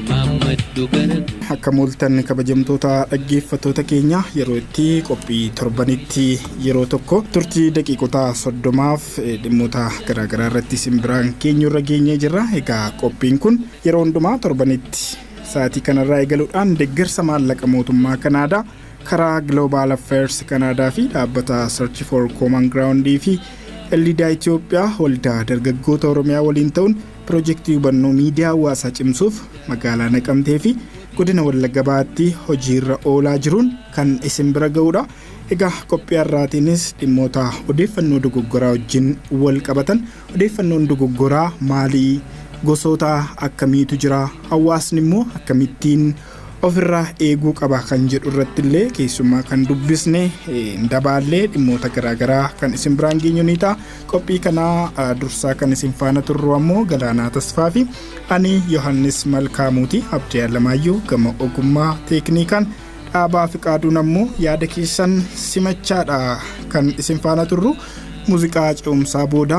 imaammadhu gara Akkam ooltan kabajamtoota dhaggeeffattoota keenya yeroo itti qophii torbanitti yeroo tokko turtii daqiiqota soddomaaf eh, dhimmoota garaagaraa irratti isin biraan geenyu irra geenyee jirra. Egaa qophiin kun yeroo hundumaa torbanitti sa'aatii kanarraa eegaluudhaan deeggarsa maallaqa mootummaa Kanaadaa karaa Global Affairs Kanaadaa fi dhaabbata Search for Common Ground fi Ellidaa Itoophiyaa waldaa dargaggoota Oromiyaa waliin ta'uun Pirojektii hubannoo miidiyaa hawaasaa cimsuuf magaalaa Naqamtee fi godina Wallagga Bahaatti hojiirra oolaa jiruun kan isin bira ga'uudha. Egaa qophii har'aatiinis dhimmoota odeeffannoo dogoggoraa wajjin wal qabatan odeeffannoon dogoggoraa maalii gosoota akkamiitu jira hawaasni immoo akkamittiin ofirraa eeguu qaba kan jedhu irratti illee keessummaa kan dubbisne hin dabaallee dhimmoota garaagaraa kan isin biraan geenyu ni ta'a qophii kanaa dursaa kan isin faana turru ammoo galaanaa tasfaa fi ani yohannis malkaamuuti abdii alamaayyoo gama ogummaa teekniikaan dhaabaa fi qaaduun ammoo yaada keessan simachaadha kan isin faana turru muuziqaa ce'umsaa booda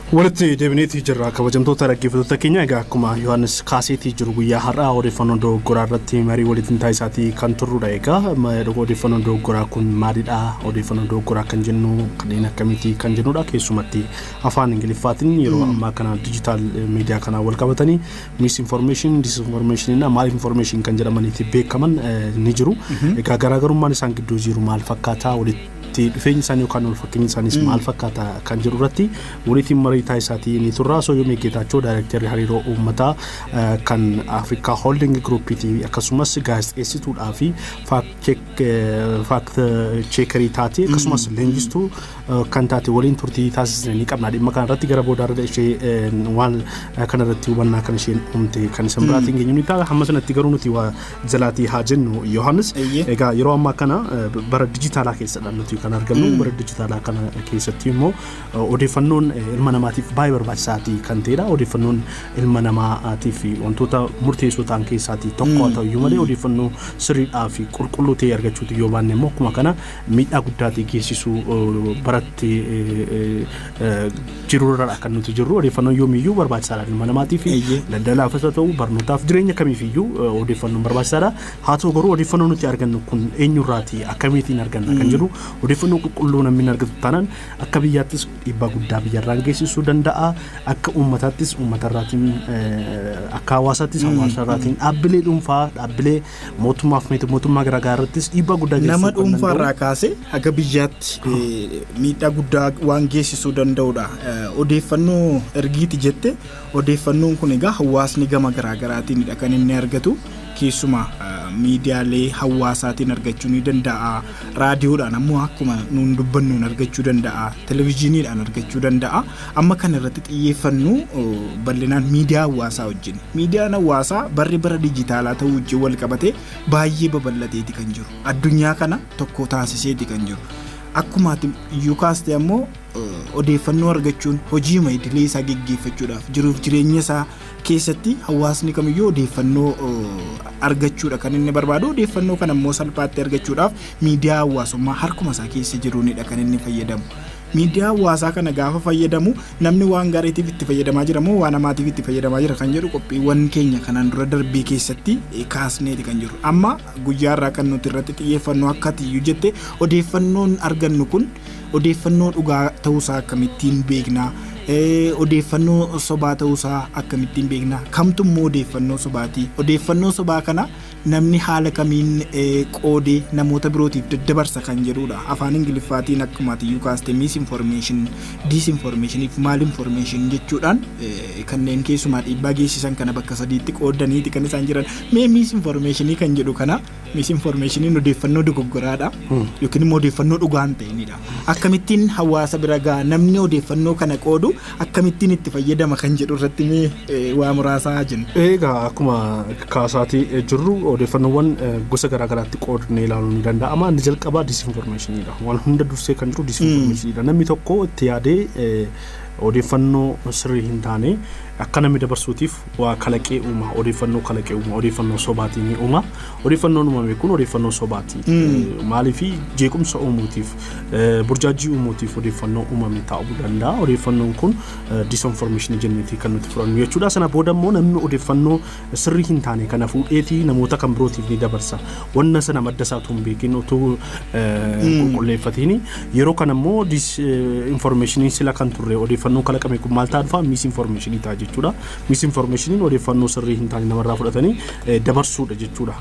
Walitti deebineetii jirra kabajamtoota dhaggeeffattoota keenya egaa akkuma Yohaannis kaaseetii jiru guyyaa har'aa odeeffannoo dogoggoraa irratti marii walitti taasisaatii kan turrudha egaa ma- odeeffannoo dogoggoraa kun maalidha odeeffannoo dogoggoraa kan jennu kanneen akkamiiti kan jennudha keessumatti afaan ingiliffaatiin yeroo ammaa kana dijitaal miidiyaa kanaa wal qabatanii misinformation disinformation na maal information kan jedhamaniiti beekaman eh, ni jiru egaa garaagarummaan isaan gidduu jiru maal fakkaataa walitti itti dhufeenyi isaanii yookaan wal fakkeenyi isaaniis maal fakkaata kan jedhu irratti waliitiin marii taasisaatii ni turra. Osoo yoomii Geetaachoo daayirektarri hariiroo uummataa eh, kan Afrikaa Holding Groupiiti akkasumas gaazexeessituudhaa fi faakt cheekarii taate akkasumas leenjistuu eh, kan taate waliin turtii taasisne ni qabna. Dhimma kana irratti gara boodaa irra ishee eh, waan eh, kana irratti hubannaa kan isheen uumte kan isan biraatiin geenyu ni ta'a. Hamma sanatti garuu nuti waa jalaatii haa jennu Yohaannis. Eeyyee. Egaa yeroo ammaa kana eh, b- bara dijitaalaa keessadha nuti kan argamu. Bara dijitaalaa kana keessatti immoo eh, odeeffannoon eh, ilma namaatiif baay'ee barbaachisaati kan ta'edha. Odeeffannoon ilma namaatiif wantoota murteessoo ta'an keessaati tokko haa ta'u iyyuu malee odeeffannoo sirriidhaa fi qulqulluu ta'e argachuutu yoo baanne immoo akkuma kana miidhaa guddaati geessisuu eh, baratti eh, eh, eh, jiru irra akka nuti jirru odeeffannoon yoomiyyuu barbaachisaadha ilma namaatiif Eeyyee. daldalaafis haa ta'u barnootaaf jireenya kamiifiyyuu eh, odeeffannoon barbaachisaadha haa ta'u garuu odeeffannoo nuti argannu kun eenyurraati akkamiitiin arganna kan jedhu odeeffannoo qulqulluu namni hin argatu taanaan akka biyyaattis dhiibbaa guddaa biyyarraan geessisuu danda'a akka uummataattis uummatarraatiin eh, akka hawaasaattis hawaasarraatiin dhaabbilee dhuunfaa dhaabbilee Mootummaaf miti mootummaa garaagaraa irrattis dhiibbaa guddaa geessisuu Nama kan danda'u. dhuunfaarraa kaasee haga biyyaatti eh, miidhaa guddaa waan geessisuu danda'udha. Eh, Odeeffannoo ergiiti jette odeeffannoon kun egaa hawaasni gama garaagaraatiinidha kan inni argatu. Keessumaa eh, miidiyaalee hawaasaatiin argachuu ni danda'a. Raadiyoodhaan ammoo akkuma nuun dubbannuun argachuu danda'a. Televezyiiniidhaan argachuu danda'a. Amma kan irratti xiyyeeffannu bal'inaan miidiyaa hawaasaa wajjin. Miidiyaan hawaasaa barri bara dijitaalaa ta'uu wajjin wal qabatee baay'ee babal'ateeti kan jiru. Addunyaa kana tokko taasiseeti kan jiru. Akkuma ati iyyuu kaaste ammoo odeeffannoo argachuun hojiima idilee isaa geggeeffachuudhaaf jiruuf jireenya isaa keessatti hawaasni kamiyyuu odeeffannoo argachuudha kan inni barbaadu. Odeeffannoo kana immoo salphaatti argachuudhaaf miidiyaa hawaasummaa harkuma isaa keessa jiruunidha kan inni fayyadamu. Miidiyaa hawaasaa kana gaafa fayyadamu namni waan gaariitiif itti fayyadamaa jira moo waan hamaatiif itti fayyadamaa jira kan jedhu qophiiwwan keenya kanaan dura darbee keessatti kaasneeti kan jiru. Amma guyyaa irraa kan nuti irratti xiyyeeffannu akkati iyyuu jette odeeffannoon argannu kun odeeffannoo dhugaa ta'uusaa akkamittiin beekna? Odeeffannoo sobaa ta'uusaa akkamittiin beekna? Kamtu immoo odeeffannoo sobaati? Odeeffannoo sobaa kana Namni haala kamiin qoodee namoota birootiif daddabarsa kan jedhuudha. Afaan Ingiliffaatiin akkuma atiyyuu kaaste misinformation, disinformation fi malinformation jechuudhaan kanneen keessumaa dhiibbaa geessisan kana bakka sadiitti qoodaniiti kan isaan jiran. Mee misinformation kan jedhu kana misinformation odeeffannoo dogoggoraadha yookiin immoo odeeffannoo dhugaa hin ta'inidha. Akkamittiin hawaasa bira ga'a namni odeeffannoo kana qoodu akkamittiin itti fayyadama kan jedhu irratti mee eh, waa muraasaa jenna. Egaa akkuma kaasaatii eh, jirru odeeffannoowwan eh, gosa garaa garaatti qoodnee ilaaluun ni danda'ama. Inni jalqabaa disinformeeshiniidha. Waan hunda dursee kan jiru disinformeeshiniidha. Namni tokko itti yaadee eh, odeeffannoo sirrii hin taane akka namni dabarsuutiif waa kalaqee uuma. Odeeffannoo kalaqee uuma. Odeeffannoo sobaatiin uuma. Odeeffannoon uumame kun odeeffannoo sobaati. Maaliif jeequmsa uumuutiif, burjaajjii uumuutiif odeeffannoo uumame ta'uu danda'a. Odeeffannoon kun disinformeeshinii jenneeti kan nuti fudhannu jechuudha. Sana booda immoo namni odeeffannoo sirrii hin taane kana fuudheeti namoota kan birootiif ni dabarsa. Wanna sana madda isaa utuu hin beekin utuu qulqulleeffatiin yeroo kana immoo disinformeeshiniin sila kan turre odeeffannoon kalaqame kun maal ta'a dhufa misinformeeshinii ta'a jechuudha. Misinformeeshiniin odeeffannoo sirrii hin taane namarraa fudhatanii dabarsuudha jechuudha.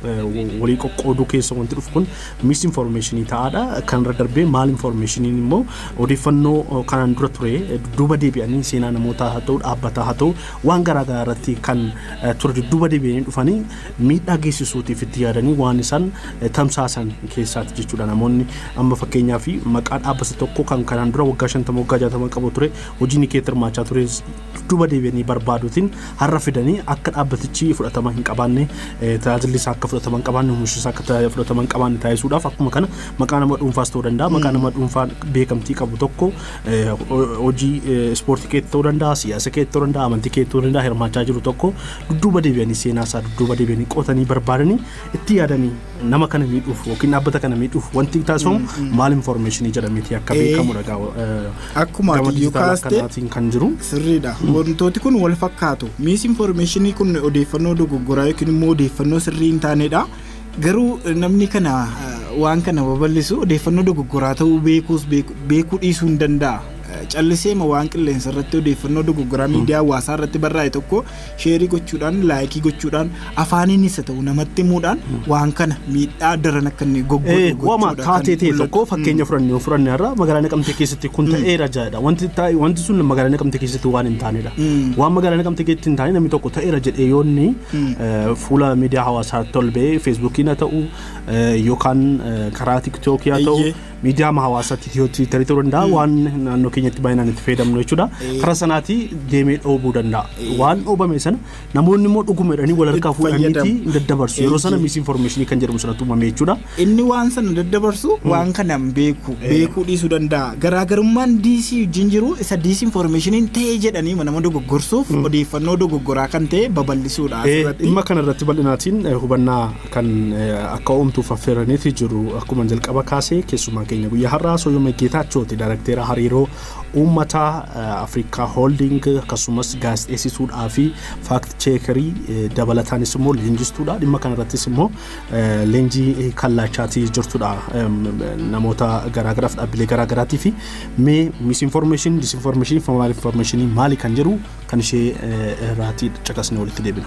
Walii qoqqooduu keessa wanti dhufu kun misinformeeshinii ta'aadha. Kanarra darbee maal informeeshiniin immoo odeeffannoo kanaan dura ture dudduuba deebi'anii seenaa namootaa haa ta'u dhaabbataa haa ta'u waan garaa garaa irratti kan ture dudduuba deebi'anii dhufanii miidhaa geessisuutiif itti yaadanii waan isaan tamsaasan keessaati jechuudha. Namoonni amma fakkeenyaaf maqaa dhaabbata tokko kan kanaan dura waggaa shantama waggaa jaatama qabu ture hojii nikeetti hirmaachaa ture duuba deebi'anii barbaaduutiin har'a fidanii akka dhaabbatichi fudhatama hin qabaanne tajaajilli isaa akka fudhatama hin qabaanne omishi isaa akka fudhatama hin qabaanne taasisuudhaaf akkuma kana maqaa nama dhuunfaas ta'uu danda'a maqaa nama dhuunfaa beekamtii qabu tokko hojii ispoortii keetti ta'uu danda'a siyaasa keetti ta'uu danda'a amantii keetti ta'uu danda'a hirmaachaa jiru tokko dudduuba deebi'anii seenaa isaa dudduuba deebi'anii qotanii barbaadanii itti yaadanii nama kana miidhuuf yookiin dhaabbata kana miidhuuf wanti taasifamu maal information jedhameeti akka Eh. beekamudha gaa Akkuma gama ati dijitaalaa kaaste- kanaatiin kan jiru. Sirriidha. Wantooti kun wal fakkaatu. Miis infoormeeshinii kun odeeffannoo dogoggoraa yookiin immoo odeeffannoo sirrii hin taanedha. Garuu eh, namni kana eh, waan kana babal'isu odeeffannoo dogoggoraa ta'uu beekuus beeku- beekuu dhiisuu hin danda'a. Eh, Calliseema waan qilleensa irratti odeeffannoo dogoggoraa miidiyaa hawaasaa irratti barraa'e tokko sheerii gochuudhaan laayikii gochuudhaan afaaniinis haa ta'u namatti himuudhaan waan kana miidhaa daran akka inni goggoodhu Eh, gochuudha Wama kan taatee ta'e mul'atu. tokko fakkeenya fudhanne yoo fudhanne irraa magaalaa naqamtee keessatti kun ta'eera jedha. Wanti taa'e wanti sun magaalaa naqamtee keessatti waan hin taanedha. Waan magaalaa naqamtee keessatti hin taane namni tokko ta'eera jedhee yoo inni eh, fuula miidiyaa hawaasaa tolbee feesbuukiin haa ta'u eh, yookaan eh, karaa tiktookii haa ta'u Eeyyee. miidiyaama hawaasaa tiitiyoo tiitarii ta'uu danda'a waan naannoo keenyatti baay'inaan itti fayyadamnu jechuudha karaa sanaatii deemee dhoobuu danda'a waan dhoobame sana namoonni immoo dhuguma jedhanii wal harkaa fuudhaniiti hin daddabarsu yeroo sana misinformeeshinii kan jedhamu sanatti uumame jechuudha. Inni waan sana daddabarsu waan kana hin beeku beekuu dhiisuu danda'a garaagarummaan diisii wajjin jiru isa diisii informeeshiniin ta'ee jedhanii nama dogoggorsuuf odeeffannoo dogoggoraa kan ta'e babal'isuudha. Dhimma kana irratti bal'inaatiin hubannaa kan akka uumtuuf affeeraniiti jiru. Akkuma jalqaba kaasee keessumaa keenya guyyaa har'aa Soyyomee Geetaachooti darakteera hariiroo uummataa Afrikaa Holding akkasumas gaazexeessituudhaa fi faakti cheekerii dabalataanis immoo leenjistuudha. Dhimma kanarrattis immoo leenjii kallaachaatii jirtudha. Namoota garaagaraaf dhaabbilee garaagaraatii fi mee misinformeeshinii, disinformeeshinii, maal infoormeeshinii maali kan jedhu kan ishee irraatii caqasnee walitti deebina.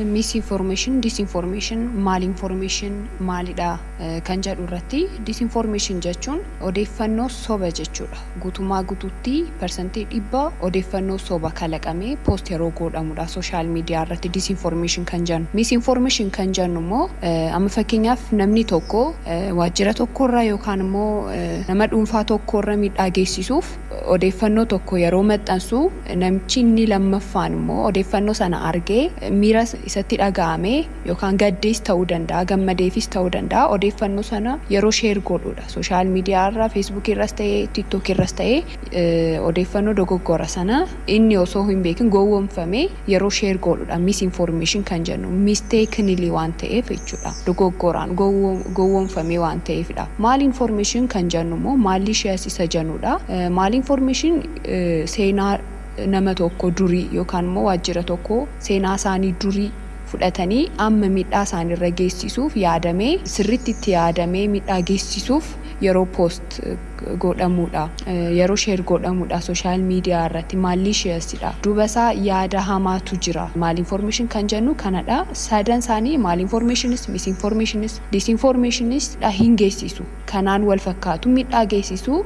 Misinformation, Disinformation, Malinformation maalidha kan jedhu irratti disinformation jechuun odeeffannoo soba jechuudha. Guutummaa guutuutti persentii dhibba odeeffannoo soba kalaqamee post yeroo goodhamudha social media irratti disinformation kan jennu. Misinformation kan jennu immoo amma fakkeenyaaf namni tokko waajjira tokkorra yookaan immoo nama dhuunfaa tokkorra miidhaa geessisuuf odeeffannoo tokko yeroo maxxansu Namichi inni lammaffaan immoo odeeffannoo sana argee miira isatti dhaga'amee yookaan gaddees ta'uu danda'a, gammadeefis ta'uu danda'a, odeeffannoo sana yeroo share godhuudha. Social media irra, Facebook irras ta'e, TikTok irras ta'e odeeffannoo dogoggora sana inni osoo hin beekin gowwomfamee yeroo share godhuudha. Misinformation kan jennu mistakenly waan ta'eef jechuudha. Dogoggoraan, gowwomfamee waan ta'eefidha. Malinformation kan jennu immoo malicious isa jenuudha. Malinformation. seenaa nama tokko durii yookaan immoo waajjira tokko seenaa isaanii durii fudhatanii amma miidhaa isaanirra geessisuuf yaadamee sirritti itti yaadamee miidhaa geessisuuf yeroo post godhamuudha yeroo share godhamuudha social media irratti malicious dha duuba isaa yaada hamaatu jira malinformation kan jennu kanadha sadan isaanii malinformationis misinformationis disinformationis dha hin geessisu kanaan wal fakkaatu midhaa geessisu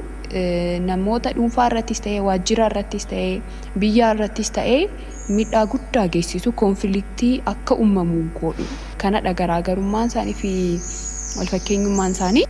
namoota dhuunfaa irrattis ta'ee waajjira irrattis ta'ee biyyaa irrattis ta'ee midhaa guddaa geessisu konfiliktii akka ummamu goodhu kanadha garaagarummaan isaanii fi wal fakkeenyummaan isaanii.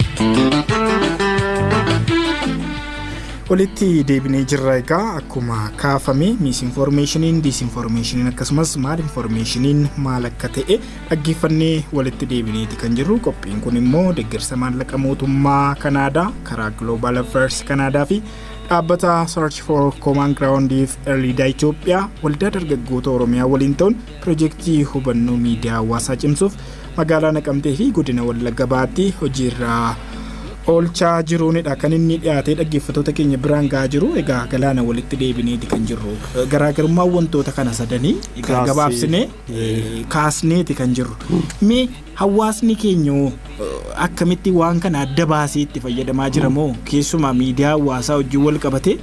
Walitti deebinee jirra egaa akkuma kaafame miisinfoormeeshiniin diisinfoormeeshiniin akkasumas maalinfoormeeshiniin maal akka ta'e Dhaggeeffannee walitti deebineeti kan jirru qophiin kun immoo deeggarsa maallaqa mootummaa Kanaadaa karaa Global Affairs Kanaadaa fi dhaabbata Search for Common Ground fi Erlidaa Itoophiyaa waldaa dargaggoota Oromiyaa waliin ta'uun pirojektii hubannoo miidiyaa hawaasaa cimsuuf magaalaa Naqamtee fi godina Wallagga Bahaatti hojiirraa oolchaa jiruunidha kan inni dhiyaatee dhaggeeffatoota keenya biraan gahaa jiru egaa galaana walitti deebineeti kan jirru garaagarummaa wantoota kana sadanii egaa gabaabsinee kaasneeti kan jirru. Mee hawaasni keenya hoo akkamitti waan kana adda baasee itti fayyadamaa jira moo keessumaa miidiyaa hawaasaa wajjin wal qabatee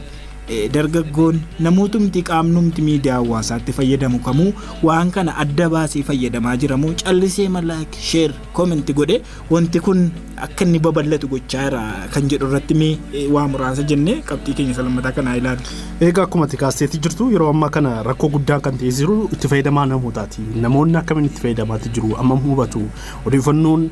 dargaggoon namootumti qaamnumti miidiyaa hawaasaatti fayyadamu kamuu waan kana adda baasee fayyadamaa jira moo callisee malaak sheer koomenti godhee Wanti kun akka inni babal'atu gochaa jira kan jedhu irratti mee waa muraasa jennee qabxii keenya isa lammataa kanaa ilaalu. Egaa akkuma ati kaasteetti jirtu yeroo ammaa kana rakkoo guddaan kan ta'ee jiru itti fayyadamaa namootaati. Namoonni akkamiin itti fayyadamaatti jiru ammam hubatu odeeffannoon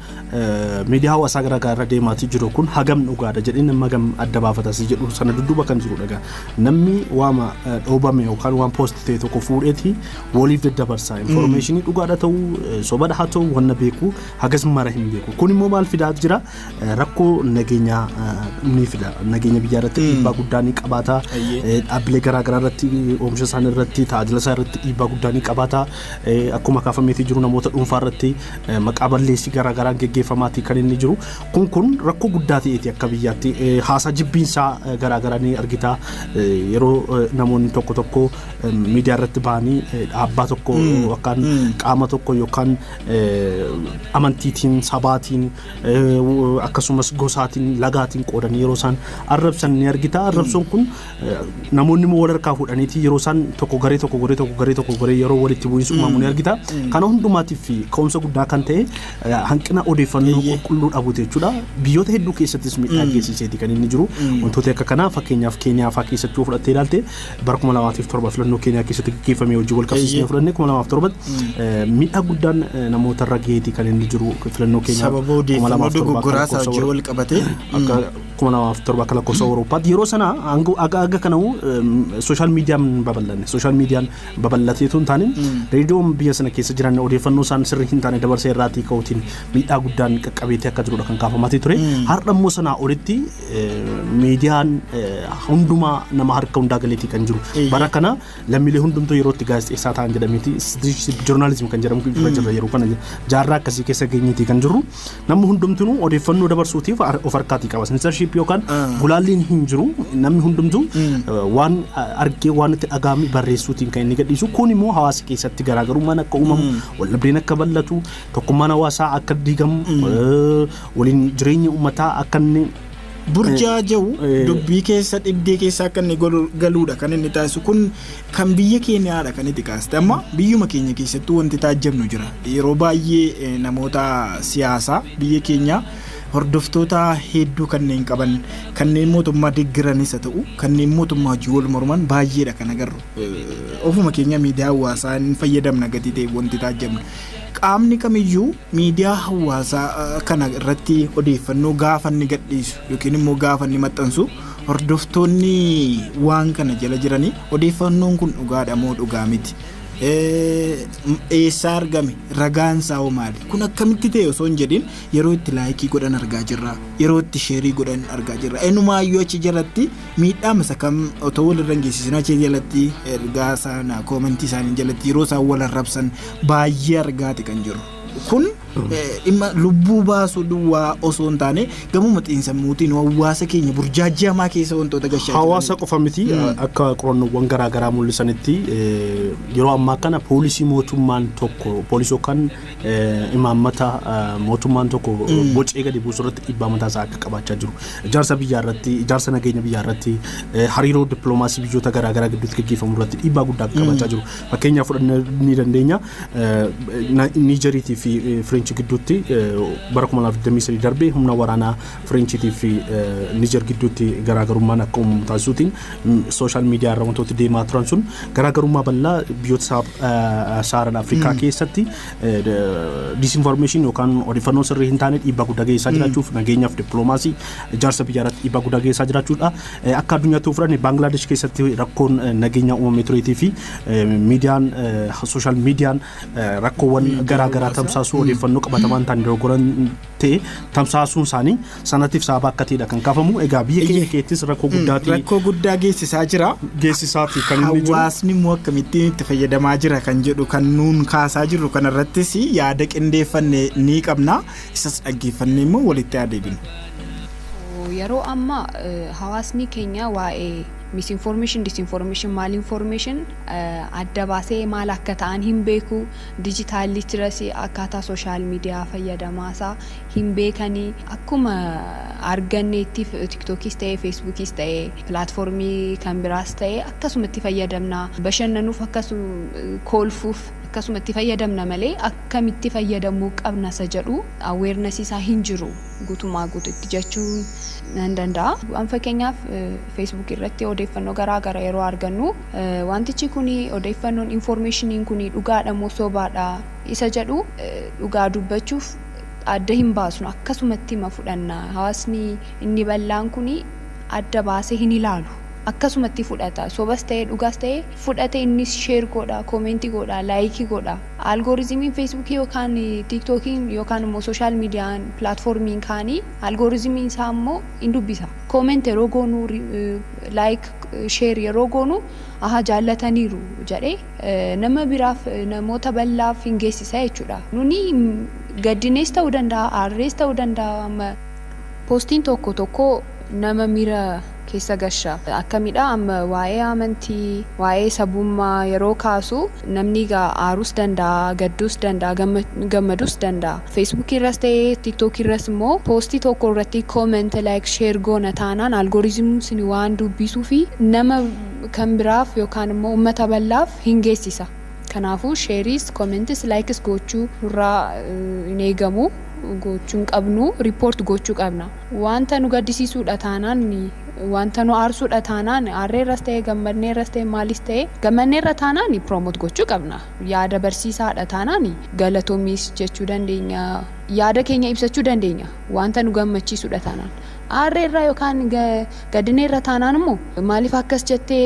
miidiyaa hawaasaa garaagaraa irra deemaatii jiru kun hagam dhugaadha jedhee nama hagam adda baafatasii jedhu sana dudduuba kan jiru dhagaa. Namni waama dhoobame yookaan waan poosti ta'e tokko fuudheeti waliif daddabarsa. Infoormeeshinii dhugaadha ta'uu sobadha haa ta'uu wanna beeku hagas mara hin beeku kun immoo maal fidaa jira Eh, rakkoo nageenyaa eh, ni fida nageenya biyyaa irratti dhiibbaa guddaa ni qabaata Ayyee. Eh, dhaabbilee garaagaraa irratti eh, oomisha isaanii irratti tajaajila isaa irratti dhiibbaa guddaa ni qabaata Eh, akkuma kaafameetii jiru namoota dhuunfaa irratti eh, maqaa balleessii garaagaraan geggeeffamaatii kan inni jiru kun kun rakkoo guddaa ta'eeti akka biyyaatti Eh, haasaa jibbiinsaa eh, garaagaraa ni argita Eh, yeroo eh, namoonni tokko tokko eh, miidiyaa irratti bahanii eh, dhaabbaa tokko yookaan qaama tokko yookaan amantiitiin, sabaatiin, akkasumas gosaatiin, lagaatiin qoodanii yeroo isaan arrabsan ni argita. Arrabsoon kun namoonni immoo wal harkaa fuudhaniiti yeroo isaan tokko garee tokko goree tokko garee tokko goree yeroo walitti bu'iinsa uumamu ni argita. Kana hundumaatiif ka'umsa guddaa kan ta'e hanqina odeeffannoo qulqulluu dhabuuti jechuudha. Biyyoota hedduu keessattis miidhaa geessiseeti kan inni jiru. Wantoota akka kanaa fakkeenyaaf Keeniyaa fa'aa keessatti yoo fudhattee ilaalte bara 2007 filannoo Keeniyaa keessatti gaggeeffame wajjin wal qabsiisnee Eeyyee. fudhannee 2007 miidhaa guddaan eh, namoota irra gaheeti kan inni jiru filannoo Keeniyaa sababa odeeffannoo 2007 dogoggoraa isaa wajjin wal qabatee akka 2007 akka lakkoofsa Awurooppaatti yeroo sana hanga aga aga kana sooshaal miidiyaan hin babal'anne sooshaal miidiyaan babal'atee tun taane reediyoon biyya sana keessa jiran odeeffannoo isaan sirrii hin taane dabarsee irraatii ka'uutiin miidhaa guddaan qaqqabeetii akka jirudha kan kaafamatii ture har'a immoo sanaa olitti miidiyaan hundumaa nama harka hundaa galeetii kan jiru. Bara kana lammiilee hundumtuu yeroo itti gaazexeessaa ta'an jedhameeti joornaalizim kan jedhamu irra jirra yeroo kana jaarraa akkasii keessa geenyeetii kan jirru namni hundumtuu odeeffannoo dabarsuutiif of harkaatii qaba. Sensarshiip yookaan gulaalliin hin jiru namni hundumtuu waan argee waan itti dhagaame barreessuutiin kan inni gadhiisu kun immoo hawaasa keessatti garaagarummaan akka uumamu waldhabdeen akka bal'atu tokkummaan hawaasaa akka diigamu Waliin jireenyi uummataa akka inni burjaaja'u Eh. dubbii keessa dhibdee keessa akka inni galu- galuudha kan inni taasisu kun kan biyya keenyaadha kan itti kaaste amma biyyuma keenya keessattuu wanti taajjabnu jira yeroo baay'ee eh, namoota siyaasaa biyya keenyaa hordoftoota hedduu kanneen qaban kanneen mootummaa deeggaranis haa ta'u kanneen mootummaa wajjin wal morman baay'eedha kan agarru Eh, ofuma keenya miidiyaa hawaasaa hin fayyadamna gatii ta'e wanti taajjabnu qaamni kamiyyuu miidiyaa hawaasaa kana irratti odeeffannoo gaafa inni gadhiisu yookiin immoo gaafa inni maxxansu hordoftoonni waan kana jala jiranii odeeffannoon kun dhugaadha moo dhugaa miti eessaa argame ragaan isaa hoo maali kun akkamitti ta'e osoo hin jedhin yeroo itti laayikii godhan argaa jirra yeroo itti sheerii godhan argaa jirra enumaayyuu achi jalatti Miidhaa masa kam otoo walirra hin geessisin achii jalatti ergaa sana koomentii isaanii jalatti yeroo isaan wal arrabsan baay'ee argaati kan jiru. Kun eh, dhimma lubbuu baasuu duwwaa osoo hin taane gamuma xiinsammuutiin hawaasa keenya burjaajii hamaa keessa wantoota gashaa jiran. Hawaasa qofa miti akka qorannoowwan garaa garaa mul'isanitti eh, yeroo ammaa kana poolisii mootummaan tokko poolisii yookaan imaammata mootummaan tokko bocee gadi buusu irratti dhiibbaa mataa isaa akka qabaachaa jiru. Ijaarsa biyyaa irratti, ijaarsa nageenya biyyaa irratti, hariiroo dippiloomaasii biyyoota garaa garaa gidduutti gaggeeffamu irratti dhiibbaa guddaa akka qabaachaa jiru. Fakkeenyaaf fudhannee ni dandeenya. Niijeriitii fi Fireenchi gidduutti bara 2023 darbe humna waraanaa Fireenchiitii fi Niijer gidduutti garaagarummaan akka uumamu taasisuutiin sooshaal miidiyaa irra wantooti deemaa turan sun garaagarummaa bal'aa biyyoota saaran Afrikaa keessatti disinformeeshin yookaan odeeffannoo sirrii hin taane dhiibbaa guddaa geessaa jiraachuuf nageenyaaf dippiloomaasii ijaarsa biyyaa irratti dhiibbaa guddaa geessaa jiraachuudha. Akka addunyaatti yoo fudhanne Baangilaadesh keessatti rakkoon nageenyaa uumamee tureetii fi miidiyaan sooshaal miidiyaan rakkoowwan garaagaraa tamsaasuu odeeffannoo qabatamaan ta'an dogoggoran ta'e tamsaasuun isaanii sanatiif sababa akka ta'edha kan kaafamu. Egaa biyya keenya Eeyyee. keessattis rakkoo guddaati Rakkoo guddaa geessisaa jira. geessisaati kan inni jiru. Hawaasni immoo akkamittiin itti fayyadamaa jira kan jedhu kan nuun kaasaa jirru kanarrattis yaada qindeeffanne ni qabna. Isas dhaggeeffannee immoo walitti haa deebinu. Yeroo ammaa eh, hawaasni keenya waa'ee misinformation, disinformation, malinformation eh, adda baasee maal akka ta'an hin beeku. Digital literacy akkaataa social media fayyadamaa isaa hin beekani. Akkuma arganne itti tiktokis ta'e feesbuukis ta'e platform kan biraas ta'e akkasuma itti fayyadamna. Bashannanuuf akkasu koolfuuf akkasuma itti fayyadamna malee akkamitti fayyadamuu qabna isa jedhu awareness isaa hin jiru guutumaa guututti jechuun nan danda'a. An fakkeenyaaf feesbuuk irratti odeeffannoo garaa gara yeroo argannu. Wantichi kuni odeeffannoon, informationiin kuni dhugaadha moo sobaadha isa jedhu dhugaa dubbachuuf adda hin baasnu akkasumattima fudhanna hawaasni inni bal'aan kuni adda baasee hin ilaalu akkasumatti fudhata sobas ta'ee dhugaas ta'ee fudhate innis sheer godha koomeentii godha laayikii godha algorizimiin feesbuukii yookaan tiiktookiin yookaan immoo sooshaal miidiyaan pilaatfoormiin kaanii algorizimiin isaa immoo in dubbisa Comment yeroo goonu like share yeroo goonu ahaa jaallataniiru jedhe nama biraaf namoota ballaaf hin geessisa jechuudha. Nuni gaddinees ta'uu danda'a aarrees ta'uu danda'a. Postiin tokko tokko nama miira keessa gasha. Akkamidha amma waa'ee amantii waa'ee sabummaa yeroo kaasu. Namni egaa aarus danda'a, gaddus danda'a, gammadus danda'a. Facebook irras ta'ee TikTok irras immoo post tokko irratti comment, like, share goona taanaan algorithm sun waan dubbisuufi nama kan biraaf yookaan immoo ummata bal'aaf hin geessisa. Kanaafuu shares, comments, likes gochuu nurraa hin eegamu. Gochuu hin qabnu. Report gochuu qabna. Wanta nu gaddisiisuu dha taanaan, wanta nu aarsu dha taanaan, aarree irras ta'e, gammadnee irras ta'e, maalis ta'e, gammannee irra taanaan promote gochuu qabna. Yaada barsiisaa dha taanaan galatoomiis jechuu dandeenya, yaada keenya ibsachuu dandeenya. Wanta nu gammachiisu dha taanaan. Aarree irra yookaan gaddinee irra taanaan immoo maaliif akkas jette,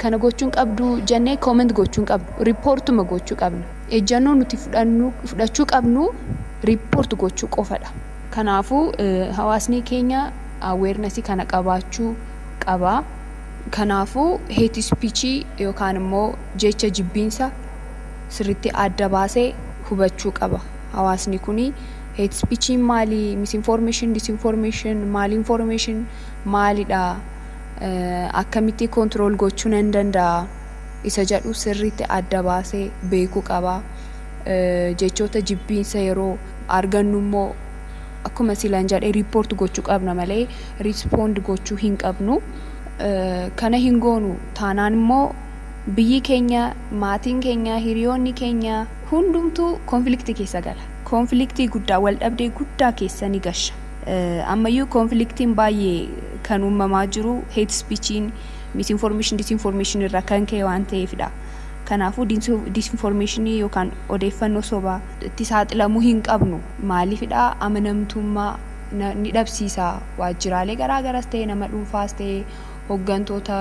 kana gochuu hin qabdu jennee comment gochuu hin qabnu. Reportuma gochuu qabna. Ejjannoo nuti fudhannu, fudhachuu qabnu report gochuu qofa dha. Kanaafuu hawaasnii keenya awareness kana qabaachuu qaba. Kanaafuu hate speech yookaan immoo jecha jibbiinsa sirritti adda baase hubachuu qaba. Hawaasni kuni hate speech maali, misinformation, disinformation, malinformation maalidha, akkamitti control gochuu nan danda'a isa jedhu sirritti adda baase beekuu qaba. jechoota jibbiinsa yeroo argannu immoo akkuma silan jedhe report gochuu qabna malee respond gochuu hin qabnu. Kana hin goonu taanaan immoo biyyi keenya, maatiin keenya, hiriyoonni keenya hundumtuu conflict keessa gala. Conflict guddaa, waldhabdee guddaa keessa ni gasha. Ammayyuu conflictiin baay'ee kan uumamaa jiru hate speechiin, misinformation, disinformation irraa kan ka'e waan ta'eefidha. Kanaafuu disinformeeshinii yookaan odeeffannoo sobaa. tti saaxilamuu hin qabnu. Maaliifidha? Amanamtummaa ni dhabsiisa. Waajjiraalee garaa garas ta'ee nama dhuunfaas ta'ee hoggantoota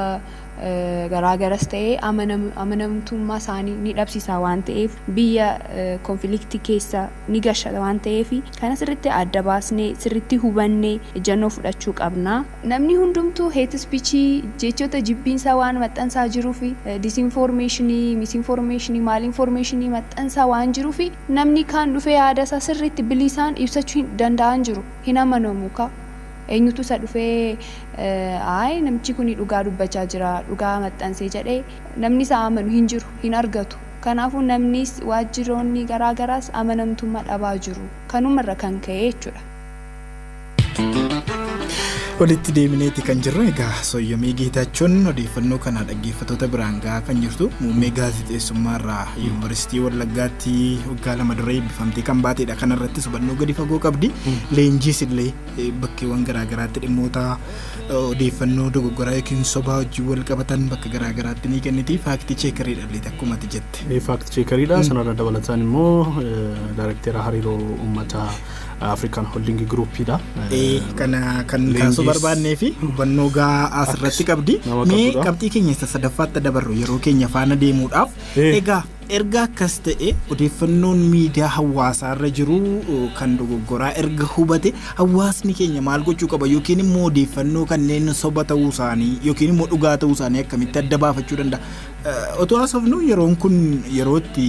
garaa garas ta'ee amanamtummaa isaanii ni dhabsiisa waan ta'eef biyya konfiliktii keessa ni gasha waan ta'eef kana sirriitti adda baasnee sirriitti hubannee ejjannoo fudhachuu qabna. Namni hundumtuu hate speech, jechoota jibbiinsaa waan maxxansaa jiruuf, disinformation, misinformation, malinformation maxxansaa waan jiruuf namni kaan dhufee yaada isaa sirriitti bilisaan ibsachuu hin danda'aa hin jiru. Hin amanamu kaa. Eenyutu isa dhufee ayi namichi kuni dhugaa dubbachaa jira, dhugaa maxxansee jedhee namni isa amanu hin jiru, hin argatu. Kanaafuu namnis waajjiroonni garaa garaas amanamtummaa dhabaa jiru. Kanuma irra kan ka'ee jechuudha. Walitti deebineeti kan jirru egaa sooyyomii geetaachuun odeeffannoo kana dhaggeeffattoota biraan gahaa kan jirtu muummee gaazexeessummaa irraa yuunivarsiitii Wallaggaatti waggaa lama dura eebbifamtee kan baateedha. Kana irratti hubannoo gadi fagoo qabdi. Leenjiis illee eh, bakkeewwan garaagaraatti dhimmoota eh, odeeffannoo dogoggoraa yookiin sobaa wajjin wal qabatan bakka garaagaraatti ni kenniti. Faaktii cheekariidha illee akkuma ati jette. Faakti cheekariidha. Sanarra dabalataan immoo eh, daarekteera hariiroo uummataa African Holding Group dha. Ee, kana kan Leenjiis- kaasuu barbaannee fi hubannoo gahaa asirratti qabdi. nama Mee qabdudha. qabxii keenya isa sadaffaatti dabarru yeroo keenya faana deemuudhaaf. Ee. Egaa erga akkas ta'e odeeffannoon miidiyaa hawaasaarra jiru uh, kan dogoggoraa erga hubate hawaasni keenya maal gochuu qaba yookiin immoo odeeffannoo kanneen soba ta'uu isaanii yookiin immoo dhugaa ta'uu isaanii akkamitti adda baafachuu danda'a. Uh, Otoo haasofnu yeroon kun yeroo itti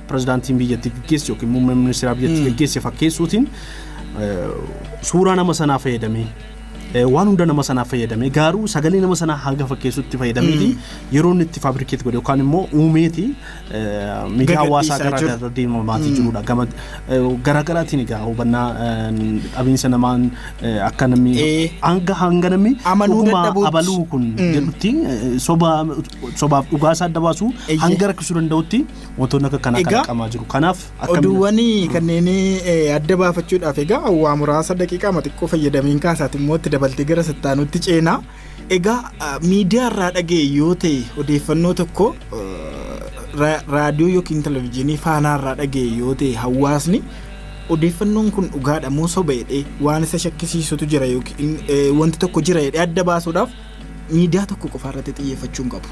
Pirezidaantiin biyyattii gaggeesse yookiin muummeen ministeeraa biyyattii gaggeesse fakkeessuutiin suuraa nama sanaa fayyadamee waan hunda nama sanaa fayyadamee garuu sagalee nama sanaa hanga fakkeessutti fayyadameeti yeroo inni itti faabrikeet godhe yookaan immoo uumeeti miidiyaa hawaasaa Gagadhiisaa garaa jiru. garaa deemamaatii jirudha. Gama garaa garaatiin egaa hubannaa dhabiinsa namaan akka namni Ee. hanga hanga namni Amanuu dhuguma dadhabuutti. abaluu kun jedhutti soba sobaaf dhugaa isaa adda baasuu Eeyyee. hanga rakkisuu danda'utti wantoonni akka kanaa Egaa, kalaqamaa jiru kanaaf akkamiin- Oduuwwan kanneen eh, adda baafachuudhaaf egaa waa muraasa daqiiqaa ma xiqqoo fayyadamiin kaasaati immoo itti dabaltee gara sattaanutti ceenaa. Egaa ah, miidiyaa irraa dhaga'e yoo ta'e odeeffannoo tokko eh, ra- raadiyoo yookiin televizyiinii faanaa irraa dhaga'e yoo ta'e hawaasni odeeffannoon kun dhugaadha moo soba jedhee waan isa shakkisiisutu jira yookiin eh, wanti tokko jira jedhee adda baasuudhaaf miidiyaa tokko qofaa irratti xiyyeeffachuu hin qabu.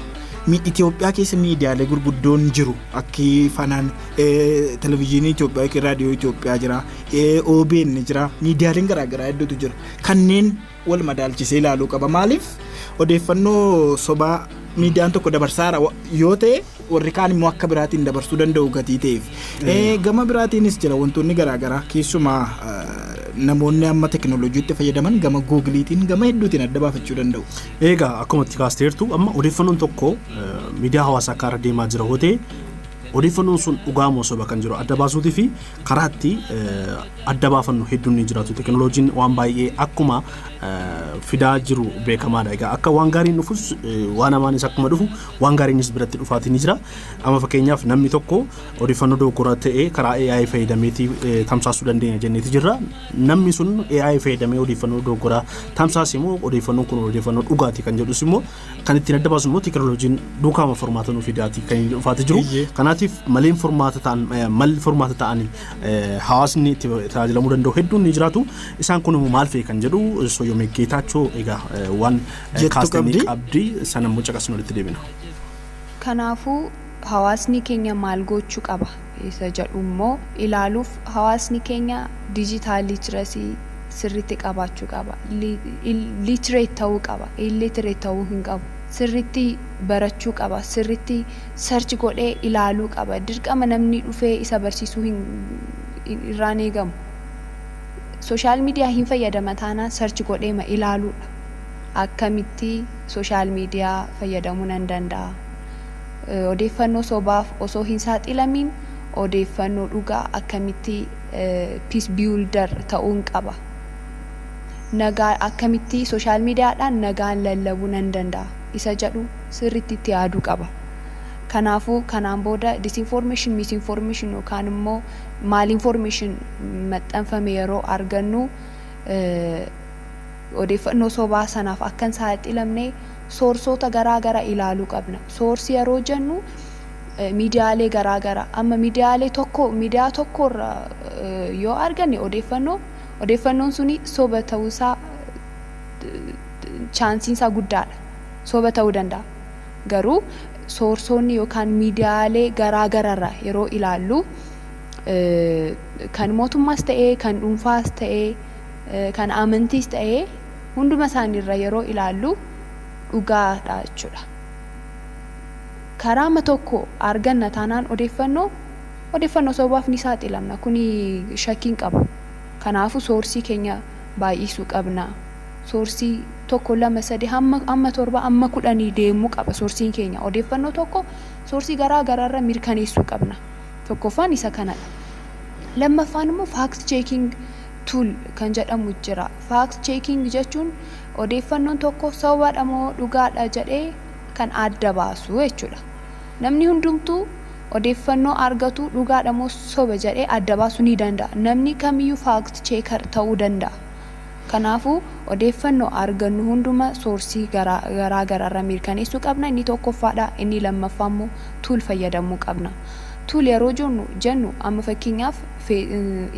Mi- Itoophiyaa keessa miidiyaalee gurguddoon jiru akki fanaan eh, televizyiinii Itoophiyaa yookiin raadiyoo Itoophiyaa jira eh, OBN jira miidiyaaleen garaagaraa hedduutu jira kanneen wal madaalchisee ilaaluu qaba maaliif odeeffannoo sobaa miidiyaan tokko dabarsaara wa- yoo ta'e warri kaan immoo akka biraatiin dabarsuu danda'u gatii ta'eef. Gama biraatiinis jira wantoonni garaagaraa keessumaa namoonni amma tekinooloojiitti fayyadaman gama guugiliitiin gama hedduutiin adda baafachuu danda'u. Egaa akkuma itti kaasteertu amma odeeffannoon tokko miidiyaa hawaasaa akka irra deemaa jira hootee odeeffannoon sun dhugaa moo soba kan jiru adda baasuutii fi karaa itti adda baafannu hedduun ni jiraatu. Tekinooloojiin waan baay'ee akkuma fidaa jiru beekamaadha. Egaa akka waan gaariin dhufus waan hamaanis akkuma dhufu Waan gaariinis biratti dhufaatii ni jira. Amma fakkeenyaaf namni tokko odeeffannoo dogoggora ta'e karaa AI fayyadameeti eh, tamsaasuu dandeenya jenneeti jirra. Namni sun AI fayyadamee odeeffannoo dogoggoraa tamsaase immoo odeeffannoon kun odeeffannoo dhugaati kan jedhus immoo kan ittiin adda baasu immoo teekinooloojiin duukaama furmaata nuuf fidaati kan inni dhufaati jiru. Eeyyee. Kanaatiif maleen furmaata ta'an eh, malli furmaata ta'anii eh, hawaasni itti tajaajilamuu danda'u hedduun ni jiraatu. Isaan kun immoo maal fa'i kan jedhu Soyyomee Geetaachoo egaa eh, waan jettu kaastanii qabdi. qabdi sana immoo caqasnu walitti deebina. Kanaafuu hawaasni keenya maal gochuu qaba isa jedhu immoo ilaaluuf hawaasni keenya digital literacy sirriitti qabaachuu qaba. Li- il- Literate ta'uu qaba. Illiterate ta'uu hin qabu. Sirriitti barachuu qaba. Sirriitti search godhee ilaaluu qaba. Dirqama namni dhufee isa barsiisuu hin hin- irraan eegamu. Sooshaal miidiyaa hin fayyadama taanaan search godheema ilaaluudha. Akkamitti social media fayyadamuu nan danda'a? Odeeffannoo sobaaf osoo hin saaxilamiin odeeffannoo dhugaa akkamitti peace builder ta'uun qaba? Nagaa akkamitti social media dhaan nagaan lallabuu nan danda'a? Isa jedhu sirriitti itti yaaduu qaba. Kanaafuu kanaan booda disinformation, misinformation yookaan immoo malinformation maxxanfame yeroo argannu Odeeffannoo sobaa sanaaf akka hin saaxilamne soorsoota garaa gara ilaaluu qabna. Source yeroo jennu miidiyaalee garaa gara amma miidiyaalee tokko miidiyaa tokko irra yoo arganne odeeffannoo odeeffannoon suni soba ta'uu isaa chaansiin isaa guddaadha. Soba ta'uu danda'a. Garuu soorsoonni yookaan miidiyaalee garaa gararraa yeroo ilaallu kan mootummaas ta'ee kan dhuunfaas ta'ee kan amantiis ta'ee hunduma isaanii irra yeroo ilaallu dhugaa dha jechuudha. Karaama tokko arganna taanaan odeeffannoo odeeffannoo sobaaf ni saaxilamna kuni shakkiin qabu. Kanaafu soorsii keenya baay'isuu qabna. Soorsii tokko lama sadi hamma amma torba amma kudhanii deemuu qaba soorsiin keenya odeeffannoo tokko soorsii garaa garaarra mirkaneessuu qabna. Tokkoffaan isa kanadha. Lammaffaan immoo faakti cheekiing tool, kan jedhamu jira. Fact checking jechuun odeeffannoon tokko sobadha moo dhugaadha jedhee kan adda baasu jechuudha. Namni hundumtuu odeeffannoo argatu dhugaadha moo soba jedhee adda baasuu ni danda'a. Namni kamiyyuu fact checker ta'uu danda'a. Kanaafuu odeeffannoo argannu hunduma soorsii garaa garaarra mirkaneessuu qabna. Inni tokkoffaadha. Inni lammaffaammoo tool fayyadamuu qabna. Tool yeroo jennu amma fakkeenyaaf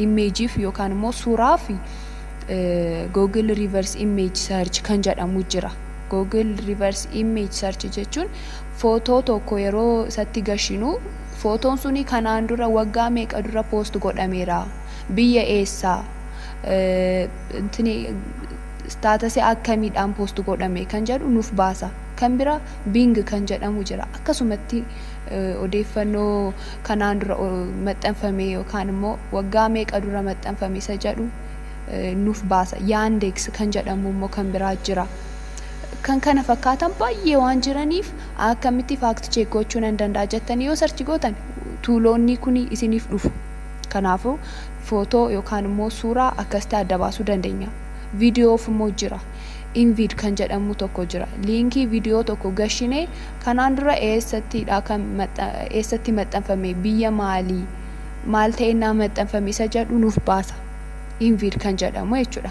image fi yookaan immoo suuraa fi Google Reverse Image Search kan jedhamu jira. Google Reverse Image Search jechuun footoo tokko yeroo isatti gashinu footoon suni kanaan dura waggaa meeqa dura post godhameera, biyya eessaa, staatasii akkamiidhaan post godhame kan jedhu nuuf baasa. Kan bira Bing kan jedhamu jira. Akkasumatti odeeffannoo kanaan dura maxxanfame yookaan immoo waggaa meeqa dura maxxanfame isa jedhu nuuf baasa. Yaandeeks kan jedhamu immoo kan biraa jira. Kan kana fakkaatan baay'ee waan jiraniif akkamitti faakti cheek gochuu nan danda'a jettanii yoo sarchi gootan tuuloonni kun isiniif dhufu. Kanaafuu footoo yookaan immoo suuraa akkasitti adda baasuu dandeenya. Viidiyoof immoo jira. Invid kan jedhamu tokko jira. Liinkii viidiyoo tokko gashinee Kanaan dura eessatti dha kan eessatti maxxanfame, biyya maali, maal ta'e ennaa maxxanfame isa jedhu nuuf baasa Invid kan jedhamu jechuu dha.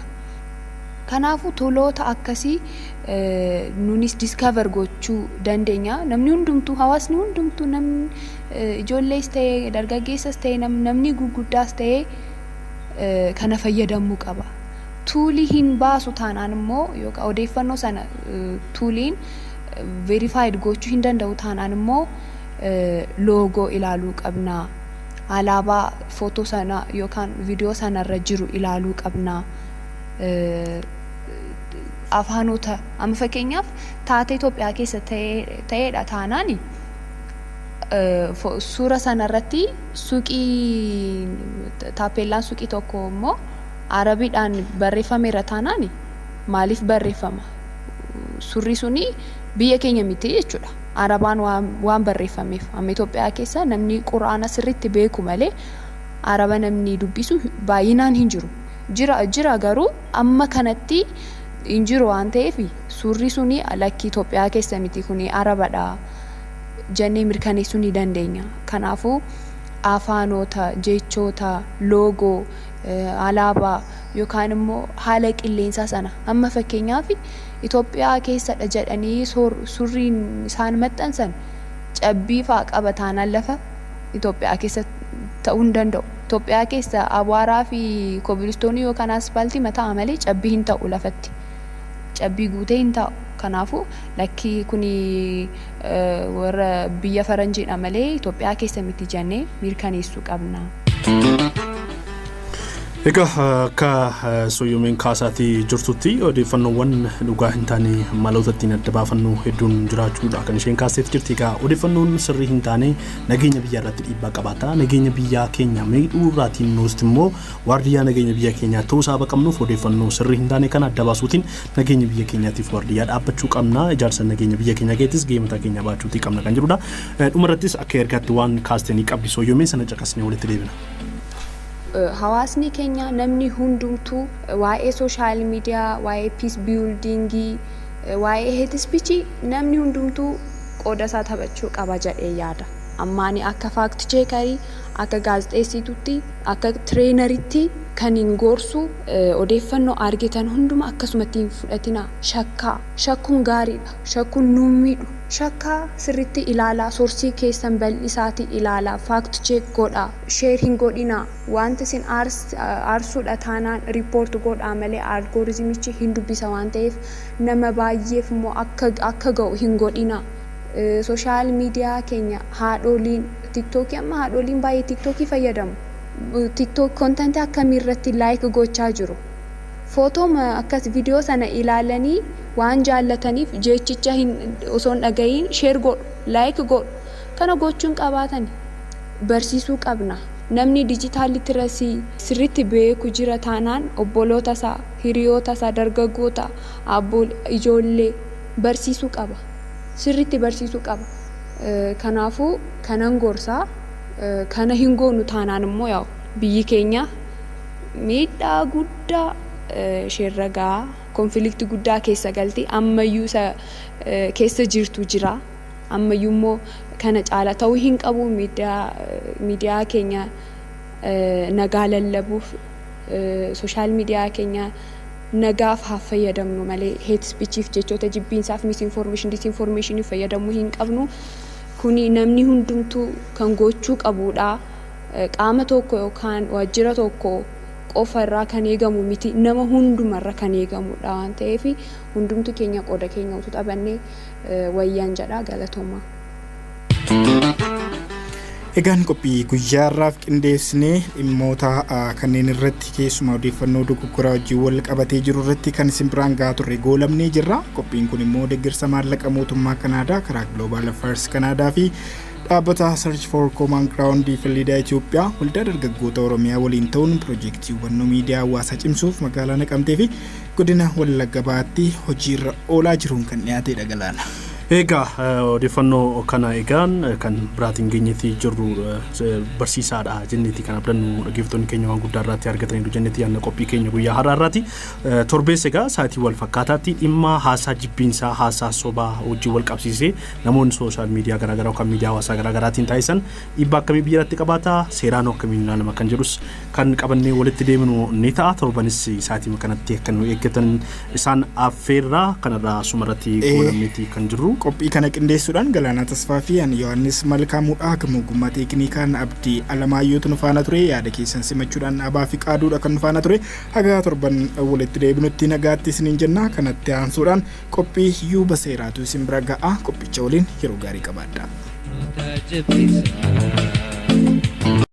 Kanaafuu toloota akkasii nunis discover gochuu dandeenya. Namni hundumtuu, hawaasni hundumtuu, namni ijoollees ta'e, dargaggeessas ta'e, namni gurguddaas ta'e kana fayyadamuu qaba. Tuulii hin baasu taanaan immoo yookaan odeeffannoo sana tuuliin verified goochuu hin danda'u taanaan immoo loogoo ilaaluu qabna. Alaabaa footoo sana yookaan viidiyoo sana irra jiru ilaaluu qabna. Afaanota amma fakkeenyaaf taatee Itoophiyaa keessa ta'eedha taanaan suura sana irratti suuqii taappeellaan suuqii tokko immoo Arabiidhaan barreeffameera taanaan maaliif barreeffama? surrii suni biyya keenya miti jechuudha. Arabaan waan, waan barreeffameef. Amma Itoophiyaa keessa namni Qur'aana sirriitti beeku malee Araba namni dubbisu baay'inaan hin jiru. Jira, jira garuu amma kanatti hin jiru waan ta'eef surrii suni lakki Itoophiyaa keessa miti kuni Arabadha jennee mirkaneessuu ni dandeenya. Kanaafuu afaanota, jechoota, loogoo alaabaa yookaan immoo haala qilleensaa sana amma fakkeenyaaf Itoophiyaa keessadha jedhanii surriin isaan maxxansan cabbii fa'a qaba taanaan lafa Itoophiyaa keessa ta'uu hin danda'u. Itoophiyaa keessa abaaraa fi kobilistoonii yookaan aspaaltii mataa'a malee cabbii hin ta'u lafatti. Cabbii guutee hin taa'u. Kanaafuu lakki kuni warra biyya faranjiidha malee Itoophiyaa keessa miti jennee mirkaneessuu qabna. Egaa akka sooyyomeen kaasaatii jirtutti odeeffannoowwan dhugaa hin taane maloota ittiin adda baafannu hedduun jiraachuudha kan isheen kaasteef jirti. Egaa odeeffannoon sirrii hin taane nageenya biyyaa irratti dhiibbaa qabaata. Nageenya biyyaa keenya miidhuu irraatiin nuusti immoo waardiyyaa nageenya biyya keenyaa ta'uu isaa qabnuuf odeeffannoo sirrii hin taane kana adda baasuutiin nageenya biyya keenyaatiif waardiyyaa dhaabbachuu qabna. Ijaarsa nageenya biyya keenyaa keessattis gahee mataa keenyaa baachuutii qabna kan jedhudha. Dhuma irrattis akka ergaatti waan kaaste ni qabdi Sooyyoo mee sana caqasnee walitti deebina. Hawaasni keenya namni hundumtuu waa'ee social media, waa'ee peace building, waa'ee hate speech namni hundumtuu qooda isaa taphachuu qaba jedhee yaada. Amma ani akka fact checker, akka gaazexeessituutti, akka traineritti kanin gorsu odeeffannoo argitan hunduma akkasumatti hin fudhatinaa. Shakkaa. Shakkuun gaariidha. shakkun nun miidhu. Shakkaa sirritti ilaalaa sorsii keessan bal'isaati ilaalaa fact check godhaa share hin godhinaa waanti isin aarsudha taanaan report godhaa malee algoritmichi hin dubbisa waan ta'eef nama baay'eef immoo akka akka ga'u hin godhinaa social media keenya haadhooliin tiktok amma haadhooliin baay'ee tiktok fayyadamu tiktok content akkamii irratti like gochaa jiru. Photo'ma akkas video sana ilaalanii waan jaallataniif jeechicha hin osoo hin dhagahiin share godhu, like godhu. Kana gochuu hin qabaatani. Barsiisuu qabna. Namni digital literacy sirriitti beeku jira taanaan obboloota isaa, hiriyoota isaa, dargaggoota, aabboole, ijoollee barsiisuu qaba. Sirriitti barsiisuu qaba. Kanaafuu kanan gorsa. Kana hin goonu taanaan immoo yaa'u biyyi keenya Miidhaa guddaa isheerra ga'a. Konfiliikti guddaa keessa galti. Ammayyuu isa keessa jirtu jira. Ammayyuu immoo kana caala ta'uu hin qabu miidiyaa keenya nagaa lallabuuf sooshaal miidiyaa keenya nagaaf haa fayyadamnu malee heet spichiif jechoota jibbiinsaaf misinformeeshin disinformeeshiniif fayyadamuu hin qabnu. Kuni namni hundumtuu kan gochuu qabuudha. qaama tokko yookaan waajjira tokko qofa irraa kan eegamu miti nama hunduma irra kan eegamudha waan ta'eef hundumti keenya qooda keenya utuu taphannee wayyaan jedha galatoomaa. Egaan qophii guyyaa irraaf qindeessinee dhimmoota kanneen irratti keessumaa odeeffannoo dogoggoraa wajjin wal qabatee jiru irratti kan isin biraan gahaa turre goolabnee jirra. Qophiin kun immoo deeggarsa maallaqa mootummaa Kanaadaa karaa Global Affairs Kanaadaa fi Dhaabbata Search for Common Ground fi Liidaa Itoophiyaa waldaa dargaggoota Oromiyaa waliin ta'uun piroojeektii hubannoo miidiyaa hawaasaa cimsuuf magaalaa Naqamtee fi godina Wallagga Bahaatti hojiirra oolaa jiruun kan dhiyaatedha galaana. Egaa eh, odeeffannoo kana egaan eh, kan biraatiin geenyetti jirru eh, se- barsiisaadha jennetti kan abdannu dhaggeeffattoonni keenya waan guddaa irratti argataniiru jennetti yaadna qophii keenya guyyaa har'aa irratti Eh, torbees egaa sa'aatii wal fakkaataatti dhimma haasaa jibbiinsaa haasaa sobaa wajjin wal qabsiisee Namoonni sooshaal miidiyaa garaa garaa yookaan miidiyaa hawaasaa garaa garaatiin taasisan dhiibbaa akkamii biyya irratti qabaata? Seeraan akkamiin ilaalama kan jedhus kan qabannee walitti deeminu ni ta'a. Torbanis sa'aatii kanatti akka nu eeggatan isaan affeerraa kanarraa suma irratti goolabneeti kan jirru. Qophii kana qindeessuudhaan Galaanaa Tasfaa fi ani Yohaannis Malkaamuudhaa gama ogummaa teekiniikaan Abdii Alamaayyootu nu faana ture. Yaada keessan simachuudhaan Abaa fi Qaaduudha kan nu faana ture. Hagaa torban walitti deebinutti nagaatti isiniin jenna. Kanatti aansuudhaan Qophii yuuba seeraatu isin bira ga'a. Qophicha waliin yeroo gaarii qabaadhaa. Mata jabisa.